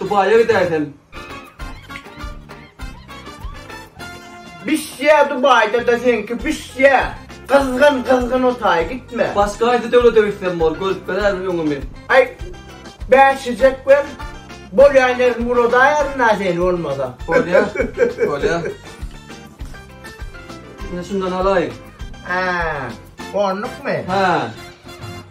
Dubaýa gidäýsem. Bişýä Dubaýda-da seňki bişýä. Gyzgyn gyzgyn otaý gitme. Başga haýsy döwlete gitsem bor, görüp bilerin öňümi. Aý bäşijek ber. Bolýa ine muradaýaryn-a seni bolmasa. Bolýa. Bolýa. Ine şundan alaýyn. Hä. Onlukmy? Hä.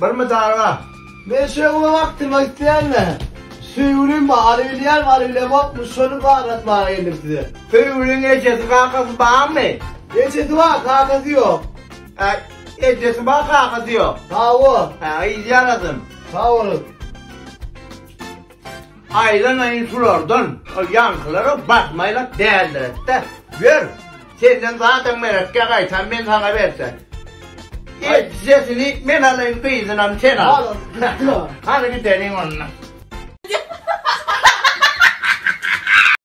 Bir mydarga. Men şeý uly wagtymy aýtýan-da. Söýgülim bar, aly bilýän aly bilemokmy, şony bar atmaga geldim size. Söýgüliň ejesi kakasy barmy? Ejesi bar, kakasy ýok. Äý, ejesi bar, kakasy ýok. Hawa. Äý, ýaradym. Sag boluň. Aýlanaýyn sulardan, ol ýaňkylara batmaýlak däldiret-dä. Ýör, senden zadyň meretkä gaýtam men saňa berse. Ýer tijesini men alaýyn, gyzynam sen al. Hany gideliň onda.